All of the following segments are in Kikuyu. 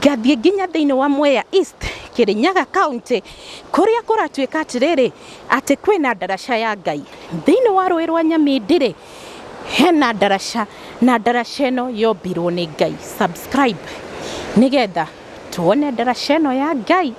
ngathiĩ nginya thĩinĩ wa Mwea East, Kĩrĩnyaga County, kũrĩa kũratuĩka atĩrĩrĩ, atĩ kwĩna ndaraca ya Ngai. Thĩinĩ wa rũĩ rwa Nyamindi-rĩ, hena ndaraca, na ndaraca ĩno yombirwo nĩ Ngai. Subscribe nĩgetha tuone ndaraca ĩno ya Ngai.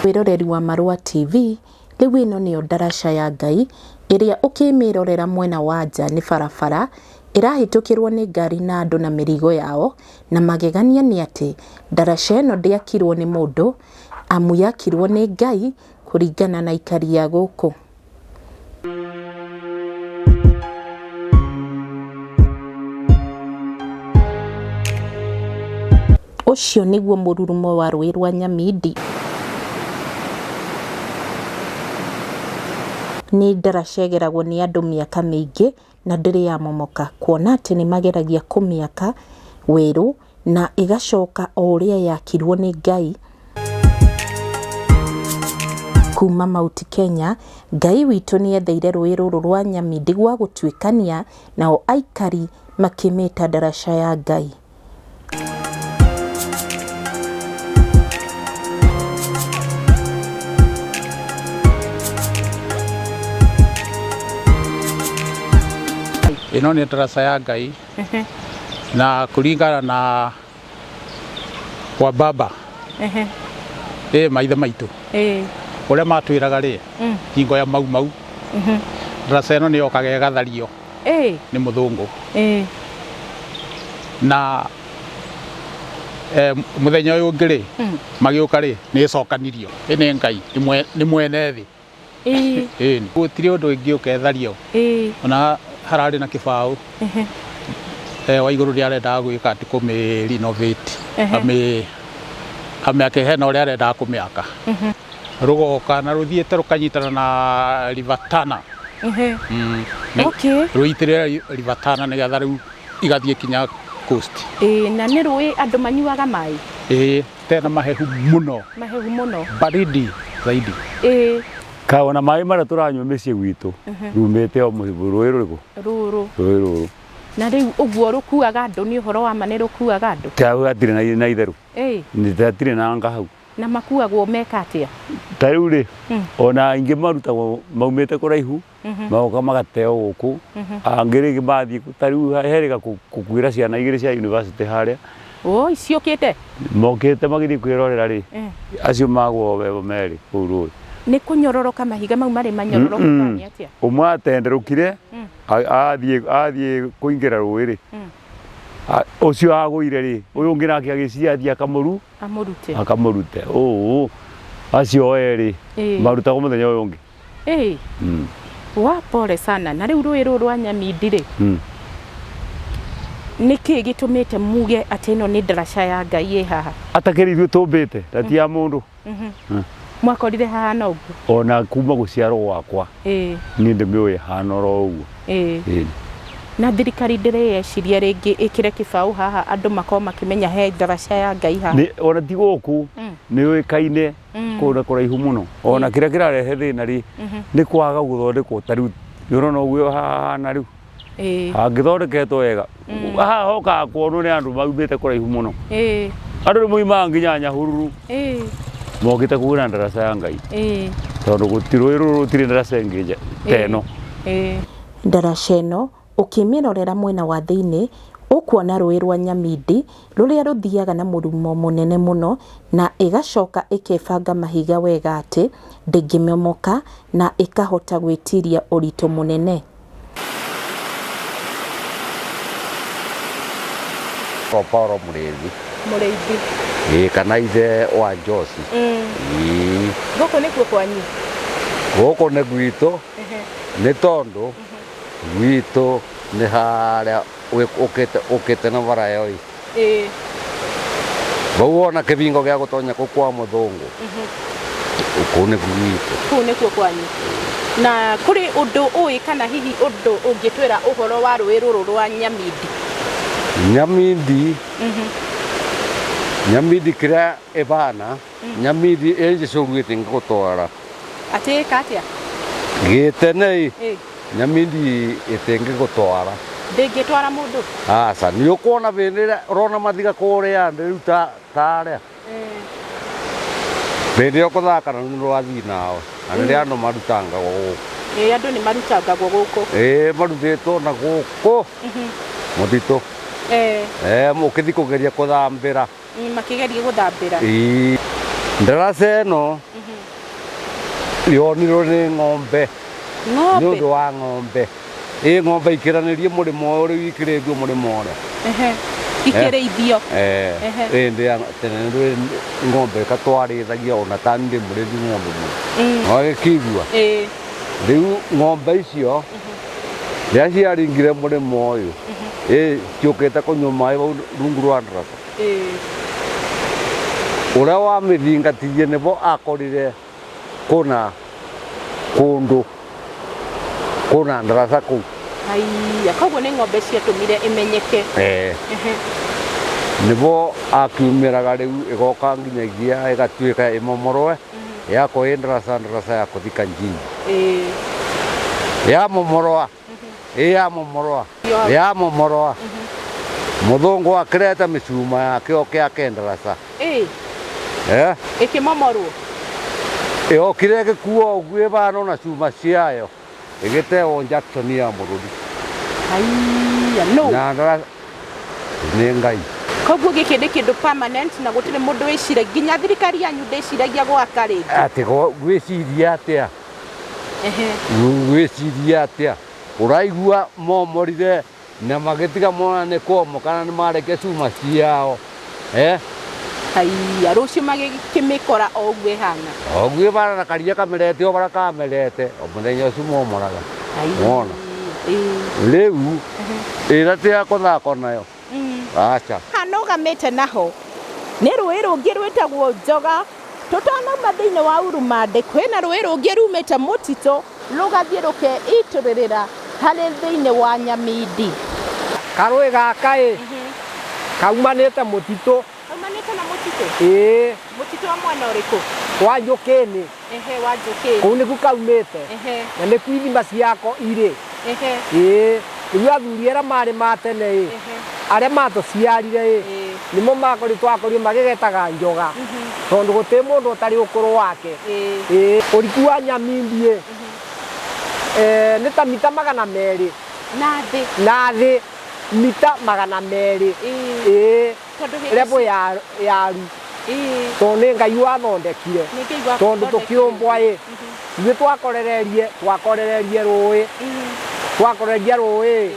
Wĩroreri wa Marũa TV, rĩu ĩno nĩyo ndaraca ya Ngai, ĩrĩa ũkĩmĩrorera mwena wa nja nĩ barabara, ĩrahĩtũkĩrwo nĩ ngari na andũ na mĩrigo yao, Na magegania nĩ atĩ, ndaraca ĩno ndĩakirwo nĩ mũndũ, amu yakirwo nĩ Ngai kũringana na aikari a gũkũ. Ũcio nĩguo mũrurumo wa rũĩ rwa Nyamindi. Nĩ ndaraca ĩgeragwo nĩ andũ mĩaka mĩingĩ. na ndĩrĩ yamomoka, kuona atĩ nĩ mageragia kũmĩaka werũ na ĩgacoka o ũrĩa yakirwo nĩ Ngai. Kuma Mount Kenya, Ngai witũ nĩ etheire rũĩ rũrũ rwa Nyamindi gwa gũtuĩkania, nao aikari makĩmĩta ndaraca ya Ngai. ĩno nĩ ndaraca ya ngai na kũringana na kwa baba Ehe. ĩ maithe maitũ Ĩĩ. ũrĩa matwĩraga rĩ hingo ya mau mau ndaraca ĩno nĩ yokaga ĩgathario Ĩĩ. nĩ mũthũngũ Ĩĩ. na eh, mũthenya ũyũ ũngĩ rĩ Mm. magĩũka rĩ nĩ ĩcokanirio ĩ nĩ ngai nĩ mwe- nĩ mwene thĩ Ĩĩ. Ĩĩ. gũtirĩ ũndũ ingĩũka ethario Ĩĩ. ona hararĩ na kĩbaũ Ehe. eh, wa igũrũ nĩ arendaga gwĩka atĩ kũmĩrinovĩti Ehe. amĩ amĩake hena ũrĩa arendaga kũmĩaka rũgoka na rũthiĩte rũkanyitana na river Tana Ehe. Mm, nĩ- Okay. rũitĩrĩra ri- river Tana nĩgetha rĩu igathiĩ kinya coast Ĩĩ, na nĩ rũĩ andũ manyuaga maĩ ĩĩ tena mahehu mũno mahehu mũno baridi zaidi Ĩĩ, kaona maĩ marĩa tũranyua mĩciĩ gwitũ rumĩte o mũhĩbu rũĩ rũrĩkũ rũrũ rũĩ rũrũ na rĩu ũguo rũkuaga andũ nĩ ũhoro wa ma nĩ rũkuaga andũ kaũ gatirĩ na- na itherũ Ĩĩ, nĩ gatirĩ na anga hau Na makuagwo meka atĩa? Ta rĩu-rĩ, Mm. ona aingĩ marutagwo maumĩte kũraihu, Mhm. magoka magateo gũkũ. Mhm. Angĩ rĩngĩ mathiĩ, ta rĩu he rĩga kũ- kũkuĩra ciana igĩrĩ cia university harĩa, Ũũi ciũkĩte? mokĩte magĩthiĩ kwĩrorera-rĩ, Eh. acio magwo we- merĩ kũu rũĩ. Nĩ kũnyororoka mahiga mau marĩ manyororoku Mm-mm. kana nĩ atĩa? Ũmwe atenderũkire, Mm. a- athiĩ athiĩ kũingĩra rũĩ-rĩ, Mm. a- ũcio agũire-rĩ, ũyũ ũngĩ nake agĩciathi akamũru, amũrute akamũrute ũũ acio o erĩ Ĩĩ. marutaga mũthenya ũyũ ũngĩ Ĩĩ, Mm, wa pole sana na rĩu rũĩ rũrũ rwa nyamindi rĩ mm. nĩ kĩĩ gĩtũmĩte muge atĩ ĩno nĩ ndaraca ya ngai ĩ haha atakĩrĩ ithuĩ tũmbĩte na ti ya mũndũ Mhm. Mm. mwakorire hahana ũguo ona kuma gũciarwo gwakwa Ĩĩ. Niĩ ndĩmĩũĩ ĩhana oro ũguo. Ĩĩ. Ĩĩ. Na thirikari ndĩrĩyeciria rĩngĩ ĩkĩre kĩbaũ haha andũ makorwo makĩmenya he ndaraca ya Ngai haha? Nĩ, ona ti gũkũ, nĩ yũĩkaine kũndũ na kũraihu mũno. Ona kĩrĩa kĩrarehe thĩna rĩ, nĩ kwaga gũthondekwo ta rĩu, nĩ ũrona ũguo haha hahana rĩu? Ĩĩ. hangĩthondeketwo wega haha hokaga kuonwo nĩ andũ maumĩte kũraihu mũno Ĩĩ. andũ nĩ moimaga nginya nyahururu Ĩĩ. mokĩte kũgĩra ndaraca ya ngai Ĩĩ. tondũ gũti- rũĩ rũrũ rũtirĩ ndaraca ĩngĩ nja ta ĩno Ĩĩ. Ndaraca ĩno ũkĩmĩrorera mwena wa thĩinĩ ũkuona rũĩ rwa Nyamindi rũrĩa rũthiaga na mũrumo mũnene mũno na ĩgacoka ĩkebanga mahiga wega atĩ ndĩngĩmomoka na ĩkahota gwĩtiria ũritũ mũnene. Paul Mũrĩithi mũrĩithi ĩĩ kana ithe wa Njoci Mm. Ĩĩ. gũkũ nĩkuo kwanyu gũkũ nĩ gwitũ nĩ tondũ gwitũ nĩ harĩa ũkĩte na bara ĩyo-ĩ, Ĩĩ. vau wona kĩvingo gĩa gũtonya kũu kwa mũthũngũ, kũu nĩku gwitũ. Kũu nĩkuo kwanyu. Na kũrĩ ũndũ ũĩ kana hihi ũndũ ũngĩtwĩra ũhoro wa rũĩ rũrũ rwa Nyamindi? Nyamindi, Nyamindi kĩrĩa Ĩvaana nyamithi ĩ njĩsũlu ĩtingĩkũtwara. Atĩĩka atĩa? Gĩĩtenei Ĩ, nyamithi ĩtingĩkũtwara. ndĩngĩtwara mũndũ? Aca, nĩũkwona vĩndĩ ĩrĩa ũrona mathiga kũũrĩa nthĩ rĩu ta ta arĩa? Ĩ, Vĩndĩ ĩyo kũthaka na nĩ rwathii nawe, na nĩrĩa andũ marutangagwo gũkũ. ĩ, andũ nĩ marutangagwo gũkũ. Ĩĩ marutĩtwo na gũkũ mũtitũ. Ĩ, Ee, ũkĩthi kũgeria kũthambĩra. Mm, makĩgeria gũthambĩra Ii. Ndaraca ĩno yonirwo nĩ ng'ombe nĩ ũndũ ng'ombe wa ng'ombe ĩ ng'ombe ikĩranĩrie mũrĩmo ũyũ rĩu ikĩrĩithio mũrĩmo ũrĩa Ehe. ikĩrĩithio Eh, Ehe. ĩ ndĩ ya tene nĩ ng'ombe katwarĩithagia ona ta nĩ ndĩmũrĩthi ng'ombe mũno wagĩkĩigua Ĩĩ. rĩu ng'ombe icio rĩrĩa ciaringire mũrĩmo ũyũ ĩ ciũkĩte kũnyua maĩ bau rungu rwa ndaraca Ũrĩa wamĩthingatirie nĩvo akorire kũna kũndũ kũna ndaraca kũu. Haiya, koguo nĩ ng'ombe ciatũmire ĩmenyeke. Ee. Nĩvo akiumĩraga rĩu ĩgoka nginyagia ĩgatuĩka ĩmomorwe yakwo ĩ ndaraca ndaraca ya kũthika njini. Yamomorwa Ĩyamomoroa, ĩyamomoroa. Mũthũngũ akĩreta mĩcuma ya kĩoke akenderasa. Ĩ, Eh, ĩkĩmomorwo. Yokire ĩgĩkuo ũguo ĩbano na cuma ciayo ĩgĩtewo Jackson ya mũrũri Aiya, no. na ndara nĩ Ngai. Koguo gĩkĩ nĩ kĩndũ permanent na gũtirĩ mũndũ wĩciragia. Nginya thirikari yanyu ndĩciragia gwaka rĩngĩ. Atĩ go- gwĩciria atĩa? Ehe. Wĩcirie atĩa? Ũraigua momorire na magĩtiga mona nĩ kwomoka na nĩ mareke cuma ciao. Eh? Haiya, rũciũ magĩkĩmĩkora o ũguo ĩhana. O ũguo ĩhana na karia kamerete o bara kamerete o mũthenya ũcio momoraga. Wona? Rĩu ĩra tĩga kũthako nayo. aca Hanũgamĩte naho nĩ rũĩ rũngĩ rwĩtagwo Njoga. Tũtanauma thĩinĩ wa Urumande, kwĩna rũĩ rũngĩ rumĩte mũtitũ rũgathiĩ rũkeitũrĩrĩra harĩ thĩinĩ wa Nyamindi. Karũĩ gaka-ĩ, kaumanĩte mũtitũ. Haumanĩte na mũtitũ? Ĩĩ, Mũtitũ wa mwena ũrĩkũ? wa njũkĩnĩ Ehe, wa njũkĩ. kũu nĩku kaumĩte Ehe, na nĩku ithima ciako irĩ ehe, ĩĩ nĩguo athuri arĩa marĩ ma tene ĩ ehe. arĩa matũciarire ĩ Ĩĩ. nĩmo makoritwo akorio magĩgetaga njoga tondũ gũtĩ mũndũ ũtarĩ ũkũrũ wake Ĩĩ. ĩĩ ũriku wa nyamimbi ĩ eh, nĩ ta mita magana merĩ Na thĩ. na thĩ mita magana merĩ Ĩĩ. ĩĩ Tondũ hĩndĩ level ya ya ru Ĩĩ, tondũ nĩ ngai wathondekire nĩ Ngai wa tondũ gũthondekire. tũkĩũmbwa ĩ ithuĩ twakorererie twakorererie rũĩ Ĩĩ, twakorereria rũĩ ĩĩ,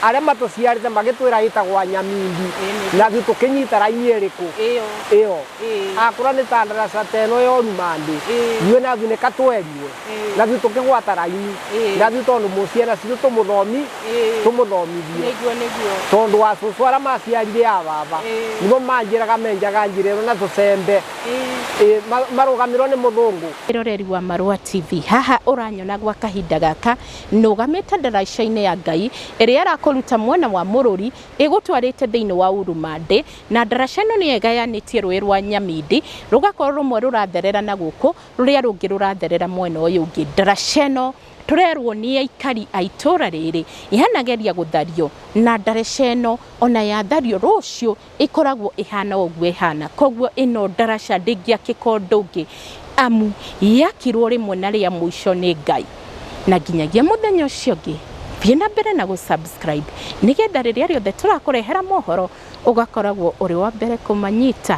arĩa matũciarĩte magĩtwĩra ĩtagwa nyamindi Ĩĩ. nathuĩ tũkĩnyita raini ĩrĩkũ ĩyo, ĩyo ĩĩ, akũra nĩ ta ndaraca teno yoruma ndĩ Ĩĩ. ithuĩ nathuĩ nĩ katweriwe Ĩĩ. na thiĩ tũkĩgwata raini Ĩĩ. na thiĩ tondũ mũ- ciana citũ tũmũthomi Ĩĩ. tũmũthomithie nĩguo nĩguo tondũ wa cũcũ arĩa maciarire a baba Ĩĩ. nĩmo manjĩraga menjaga njĩra ĩno na tũcembe Ĩĩ. Ĩĩ, ma- marũgamĩrĩrwo nĩ mũthũngũ Mwĩroreri wa Marũa TV, haha ũranyona gwa kahinda gaka nũgamĩte ndaraica-inĩ ya Ngai ĩrĩa ĩrakũruta mwena wa Mũrũri ĩgũtwarĩte thĩinĩ wa Urumandĩ, na ndaraca ĩno nĩyo ĩgayanĩtie rũĩ rwa Nyamindi rũgakorwo rũmwe rũratherera na gũkũ rũrĩa rũngĩ rũratherera mwena ũyũ ũngĩ. Ndaraca ĩno tũrerwo nĩ aikari a itũra rĩrĩ yanageria gũthario na ndaraca ĩno ona yathario rũciũ ĩkoragwo ĩhana o ũguo ĩhana. Koguo ĩno ndaraca ndĩngĩakĩka ũndũ ũngĩ amu yakirwo rĩmwe na rĩa mũico nĩ Ngai. Na nginyagia mũthenya ũcio ũngĩ thiĩ na mbere na gũ subscribe nĩgetha rĩrĩa rĩothe tũrakũrehera mohoro ũgakoragwo ũrĩ wa mbere kũmanyita.